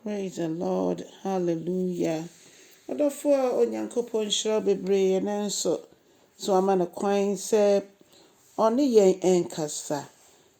Praise the Lord hallelujah Ɔdɔfoɔ Onyankopɔn nhyira wo bebree nanso so wama no kwan sɛ ɔne yɛn nkasa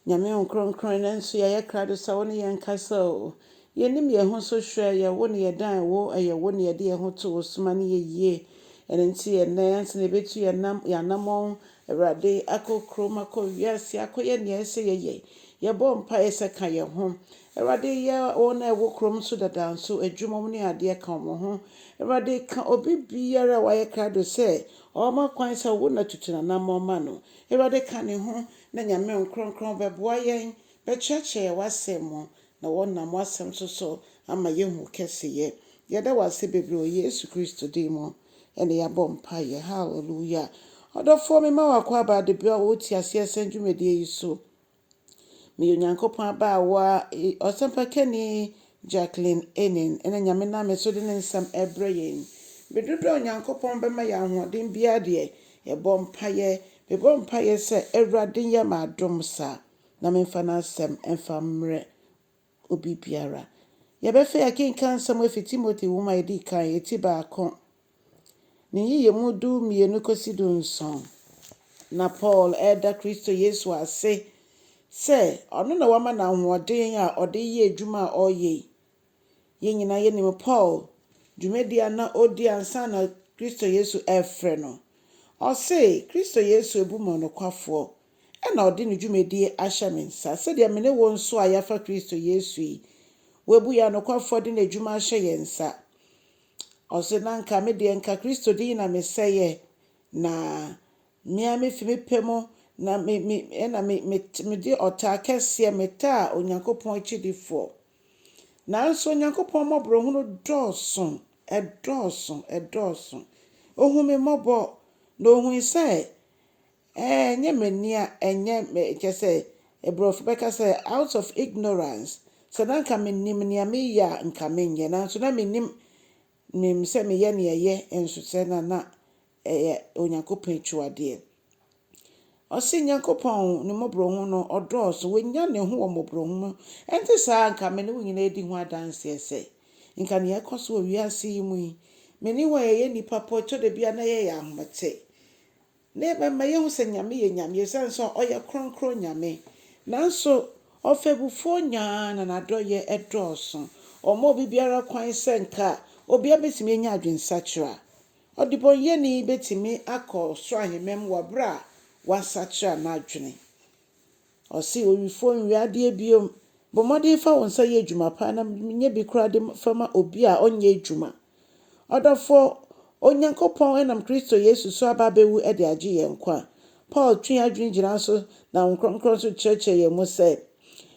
Nyame wo nkronkron nanso yɛayɛ krado sɛ wo ne yɛn nkasa o Yɛnim yɛn ho so hwɛ yɛ wo ne yɛdan wo ɛyɛ wo ne yɛde yɛn ho to wo soma ne yɛyie ɛno nti ɛnɛ ansa na yɛbɛtu yɛn anamɔn Awurade akɔ kurom akɔ wiase akɔyɛ nea ɛsɛ yɛyɛ yɛbɔ mpaeɛ sɛ ka yɛn ho Awurade yɛ wɔn a ɛwɔ kurom nso dada nso adwuma, wɔn ne adeɛ ka wɔn ho. Awurade ka obi biara a wayɛ krado sɛ ɔma kwan sɛ wo na tutu n'anammɔn ma no. Awurade ka ne ho na Nyame Nkrɔnkrɔn bɛboa yɛn, bɛkyerɛkyerɛ yɛn w'asɛm mu, na wɔnam w'asɛm nso so ama yɛahu wo kɛseyɛ. Yɛda wo ase bebree wɔ Yesu Kristo din mu na yɛabɔ mpaeɛ. Hallelujah. Ɔdɔfoɔ, mema w'akwaaba Adebayo a ɔwɔ Te Aseɛ Asɛm dwumadie yi so. Meyɛ Onyankopɔn abaawa, ɔsɛmpakani Jacqueline Enin, ɛna Nyame nam me so de ne nsɛm ɛrebrɛ yɛn. Bere dodoɔ a Onyankopɔn bɛma yɛn ahoɔden biara deɛ, yɛbɔ mpaeɛ. Mebɔ mpaeɛ sɛ Awurade nyɛ me adom saa, na memfa N'asɛm mfa mmrɛ obi biara. Yɛbɛfei akenkan nsɛm afi Timothy nwoma a edi kan, eti baako, ne nyiyimu du mmienu kosi du nson. Ná Paul reda Kristo Yesu ase sɛ ɔno na wama no ahoɔden a ɔde reyɛ adwuma a ɔreyɛ yi. Yɛn nyinaa yɛnim Paul dwumadi a na ɔredi ansa na Kristo Yesu refrɛ no. Ɔse, Kristo Yesu abu me ɔnokwafoɔ Ɛnna ɔde ne dwumadie ahyɛ me nsa, sɛdeɛ me ne wo nso a yɛafa Kristo Yesu yi, wabu yɛn anokwafoɔ de n'adwuma ahyɛ yɛn nsa. Ɔse, Na anka me deɛ, anka Kristo din na mesɛeɛ, na me ara mefi me pɛ mu na me, me, ɛnna me, me, mede ɔtaa kɛseɛ metaa Onyankopɔn akyidifoɔ. Nanso Onyankopɔn mmɔborɔhunu dɔɔso, ɛdɔɔso, ɛdɔɔso. Ɔhuu me mmɔbɔ, na ɔhui sɛ Ɛɛ ɛnyɛ m'ani a ɛnyɛ me kyerɛ sɛ Aborɔfo bɛka sɛ out of ignorance, sɛ na anka menim nea mereyɛ a anka menyɛ nanso na mennim menim sɛ meyɛ nea ɛyɛ nso sɛ na na ɛyɛ Onyankopɔn akyiwadeɛ. Ɔse Nyankopɔn ne mmɔborɔhunu no ɔdɔɔso, wɔnya ne ho wɔ mmɔborɔhunu mu, ɛnte saa a anka me ne wo nyinaa adi ho adanseɛ sɛ anka nea ɛkɔ so wɔ wiase yi mu yi, me ne wo a yɛyɛ nnipa po ɛtɔ da bi a na yɛyɛ ahomete. Na ɛbɛma yɛahu sɛ Nyame yɛ Nyame, esiane sɛ ɔyɛ Kronkron Nyame. Nanso ɔfɛbufoɔ nyaa na n'adɔeɛ dɔɔso. Ɔma obi biara kwan sɛ nka obiara bɛtumi anya adwensakyera. Ɔdebɔneyɛni bɛtumi akɔ soro ahemman mu wɔ berɛ a wasakyera n'adwene. Ɔse, Owifoɔ, nwia adeɛ bio. Bɔ mmɔden fa wo nsa yɛ adwuma paa na nyɛ bi koraa de fa ma obi a ɔnyɛ adwuma. Ɔdɔfoɔ, Onyankopɔn nam Kristo Yesu so aba abɛwu de agye yɛn nkwa. Paul twe adwene gyina so na Honhom Kronkron nso kyerɛkyerɛ yɛn mu sɛ,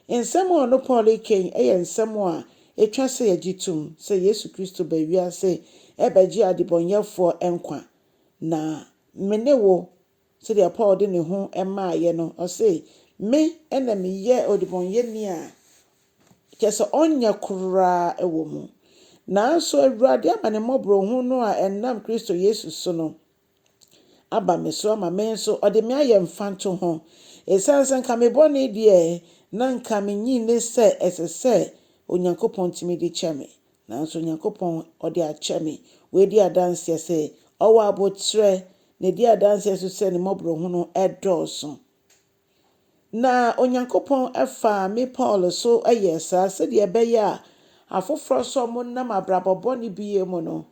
nsɛm a ɔno Paul reka yi yɛ nsɛm a ɛtwa sɛ yɛgye tom, sɛ Yesu Kristo baa wiase rebɛgye adebɔnyɛfoɔ nkwa, na me ne wo Sɛdeɛ Paul de ne ho maaeɛ no, ɔse, Me na meyɛ ɔdebɔneyɛni a kyerɛ sɛ ɔnyɛ koraa wɔ mu. Nanso Awurade ama ne mmɔborɔhunu a ɛnam Kristo Yesu so no aba me so ama me nso ɔde me ayɛ mfantoho, ɛsiane sɛ nka me bɔne deɛ na nka menyi nni sɛ ɛsɛ sɛ Onyankopɔn tumi de kyɛ me. Nanso Onyankopɔn, ɔde akyɛ me. Wadi adanseɛ sɛ ɔwɔ aboterɛ, na ɛdi adanseɛ nso sɛ ne mmɔborɔhunu dɔɔso. Na Onyankopɔn faa me Paul so yɛɛ saa sɛdeɛ ɛbɛyɛ a afoforɔ nso a wɔnam abrabɔ bɔne bi yɛ mu no,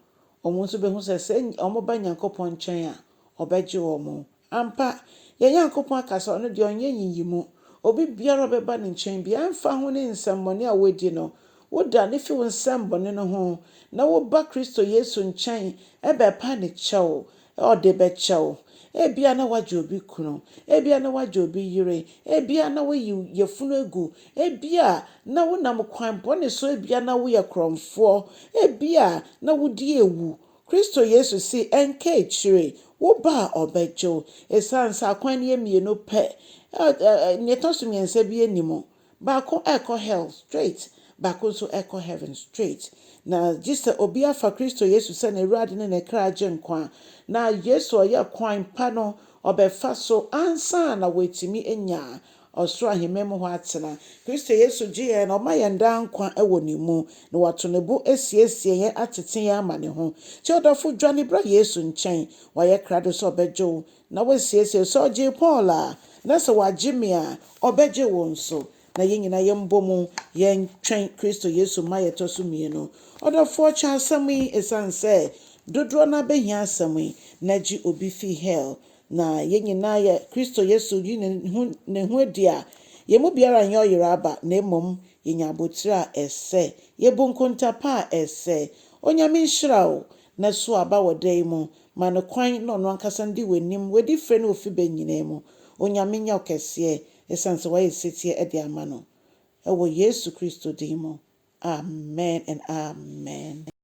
wɔn nso bɛhu sɛ sɛ wɔba Nyankopɔn nkyɛn a, ɔbɛgye wɔn. Ampa, yɛn Nyankopɔn aka sɛ ɔno deɛ ɔnyɛ nyiyimu. Obi biara a ɔbɛba ne nkyɛn biara, ɛmfa ho ne nsɛmmɔne a woadi no, wodane fi wo nsɛmmɔne no ho na woba Kristo Yesu nkyɛn bɛpa ne kyɛw a, ɔde bɛkyɛ wo. Ebia na woagye obi kunu, ebia na woagye obi yere, ebia na woayi yafunu agu, ebia na wonam kwan bɔne so, ebia na woyɛ korɔmfoɔ, ebia na wodi awu Kristo Yesu se ɛnka akyire wo ba a ɔbɛgye wo. Esiane sɛ akwan no yɛ mmienu pɛ, nea ɛtɔ so mmiɛnsa bi nni mu. Baako kɔ hell straight, baako nso kɔ heaven straight. Na gye sɛ obi afa Kristo Yesu sɛ n'Awurade ne ne kra Agyenkwa. Na Yesu a ɔyɛ kwan pa no, ɔbɛfa so ansa na woatumi anya. ɔsoro ahemman mu hɔ atena. Kristo Yesu gye yɛn na ɔma yɛn daa nkwa wɔ ne mu, na wato ne bo asiesie yɛn atete yɛn ama ne ho. Nti ɔdɔfo, dwane bra Yesu nkyɛn. Wayɛ krado sɛ ɔbɛgye wo na wasiesie wo. Sɛ ɔgyee Paul a, na sɛ wagye me a, ɔbɛgye wo nso. Na yɛn nyinaa yɛmbɔ mu yɛntwɛn Kristo Yesu mma a yɛtɔ so mmienu. Ɔdɔfoɔ, kyɛ asɛm yi, ɛsiane sɛ dodoɔ no ara bɛhia asɛm yi, na gye obi firi hell Na yɛn nyinaa yɛ Kristo Yesu yi ne ho ne ho adi a, yɛn mu biara nyɛ ɔyera aba, na mmom yɛnya abotire a ɛsɛ, yɛbu nkonta pa a ɛsɛ. Onyame nhyira wo, na so aba wɔ da yi mu. Ma no kwan na ɔno ankasa ndi w'anim, w'adi frɛ ne wo fi bɛ nyinaa mu. Onyame nyɛ wo kɛseɛ, ɛsiane sɛ wayɛ setie de ama no. Ɛwɔ Yesu Kristo din mu, amen and amen.